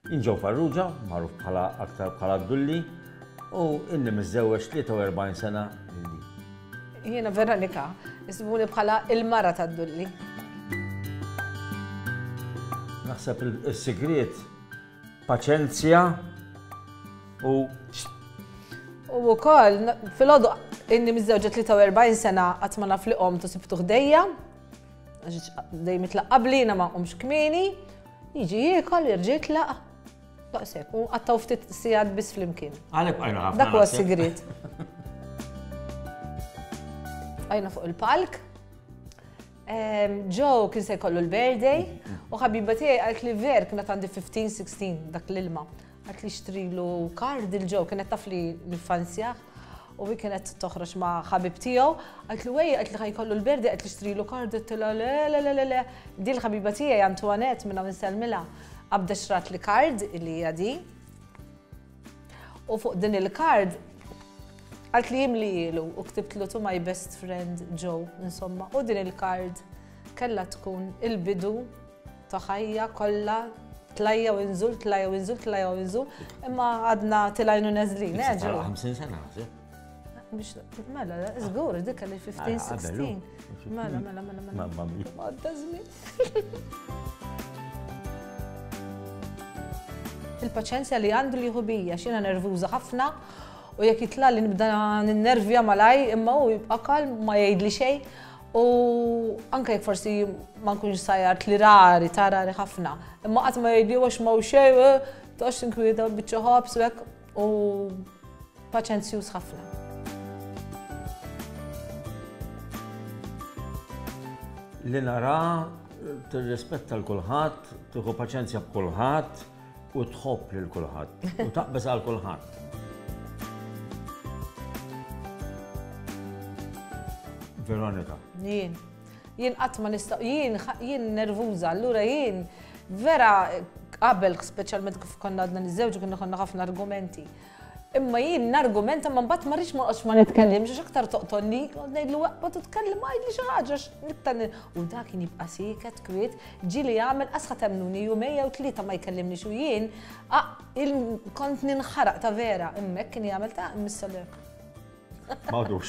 Jien Joe Farrugia, magħruf bħala aktar bħala d-Dulli, u inni miżżewweġ 43 sena lili. Jiena Veronika, ismuni bħala il-mara tad-Dulli. Naħseb il-sigriet paċenzja u U wkoll fil-għodu inni miżżewġa 43 sena qatt ma naf li qom tu sibtu ħdejja, għax dejjem itlaq qabli ma qomx kmieni. Jiġi jiekol, jerġa' jitlaq. Daqshekk, u qattaw ftit sigħat biss flimkien. Għalhekk bqajna ħafna. Dak huwa sigriet. Bqajna fuq il-palk. Joe kien se jkollu l-birthday u ħabiba tiegħi għalt li ver kienet għandi 15-16 dak l-ilma. Għat li xtrilu kar dil-ġo, kienet taf li nifanzjaħ u hi kienet toħroġ ma' ħabib tiegħu, għat li wej, għat li ħajkollu l-berdi, għat li xtrilu kar dittila le le le le le. Dil ħabiba tiegħi Antoinette minna minn Selmila qabda xrat li kard li jadi. U fuq din il-kard għat li jimli jilu u ktibtlu tu my best friend Joe, insomma, u din il-kard kella tkun il-bidu ta' ħajja kollha tlajja u inżul, tlajja u inżul, tlajja u inżul, imma għadna tilajnu neżlin, eh, ġew. 50 sena, biex mela, żgur, dik li 15, 16. Mela, mela, mela, mela. Mamma mia. Għadda żmien. Il-paċenzja li għandu li jħubija, xina nervuża ħafna u jekk jitla li nibda n-nervja malaj imma u jibqa kalm ma jgħid li xej U anke jekk forsi ma nkunx sajart li rari, ta' rari ħafna, imma qatt ma jgħidli għax ma xej, eh, toqgħodx inkwieta biċċa ħobż u hekk u paċenzjuż ħafna. Li nara tirrispetta l-kulħadd, tieħu paċenzja b'kulħadd, U tħobb lil kulħadd, u taqbeż għal kulħadd. Veronika. Jien. Jien qatt ma nistaq, jien jien nervuża, allura jien vera qabel speċjalment kif konna għadna niżewġ konna konna ħafna argumenti. Imma jien nargumenta imma mbagħad ma rridx ma noqgħodx ma nitkellimx għax aktar toqtolni, noqgħod ngħidlu eqgħod itkellem għidli xi ħaġa għax l-iktar u dak kien jibqa' sieket kwiet, ġieli jagħmel asħa temmnuni jumejn jew tlieta ma jkellimnix u jien kont ninħaraq ta' vera, imma hekk kien jagħmel ta' mis-soler. M'għadux.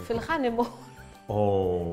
Fil-ħanimu. Oh.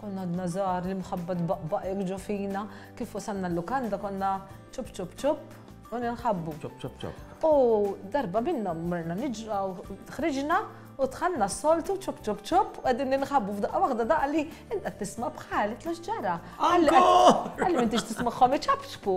Konna għadna żgħar, l-imħabba tbaqbaq hekk ġo fina, kif wasalna l-lukanda konna ċupp ċupp ċupp u ninħabbu. Ċupp ċupp ċupp. U darba minnhom mrna niġraw, ħriġna u tħanna s-soltu ċupp ċupp ċupp u qegħdin ninħabbu f'daqqa waħda daqqa li inta tisma' bħal tlu ġara. Għalli m'intix tismagħhom iċapċpu.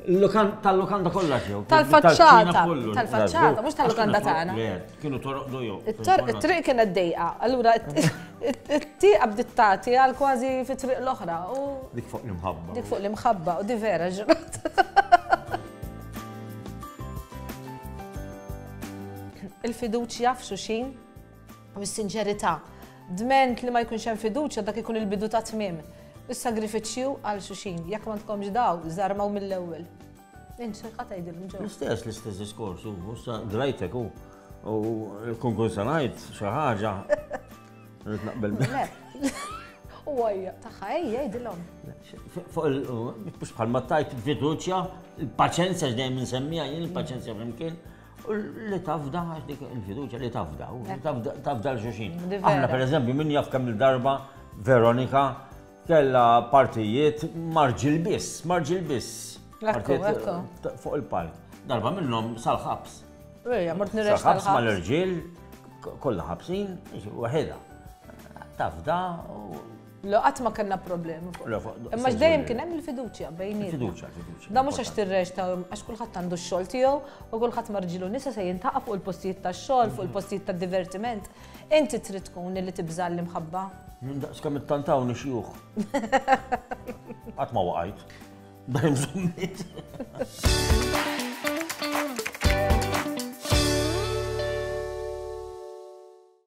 Tal-lukanda kollha ġew. Tal-faċċata. Tal-faċċata, mhux tal-lukanda tagħna. Kienu toroqdu jew. It-triq kienet dejqa. Allura it-tieqa bdiet tagħti għal kważi fit-triq l-oħra. Dik fuq l-imħabba. Dik fuq l-imħabba u di vera ġrat. Il-fiduċja f'xuxin u s-sinċerità. Dment li ma jkunx hemm fiduċja dak ikun il-bidu ta' tmiem. Is-sagrifiċċju għal xuxin, jekk ma tkomx daw, żarmaw mill-ewwel. Inċer ħadd għidilhom ġew. L-istess, l-istess diskors, u issa grajtek u kun kun sanajt xi ħaġa. Rrid naqbel U għajja, taħħa, ejja, jidilom. Mux bħal ma tajt fiduċja, il-paċenzja ġdejjem nsemmija, jien il-paċenzja flimkien, Li tafda, għax dik il-fiduċa li tafda, tafda l-xuxin. Aħna per eżempju, min jaf kemm il-darba Veronika kella partijiet marġil biss, marġil biss. Fuq il-palk. Darba minnhom sal-ħabs. Sal-ħabs mal-irġiel, kollha ħabsin, waħedha. Tafda, Le qatt ma kellna problemi fuq. Le, fuq- Imma dejjem kien hemm il-fiduċja bejnietna. Fiduċja, fiduċja. Da mhux għax tirrex ta' għax kulħadd għandu x-xogħol tiegħu u kulħadd marġilu nisa se jintaqa' fuq il-postijiet tax-xogħol, fuq il-postijiet tad-divertiment. Inti trid tkun li tibża' l-imħabba. Minn daqs kemm ittantawni xjuħ. Qatt ma waqajt. Dajjem żommit.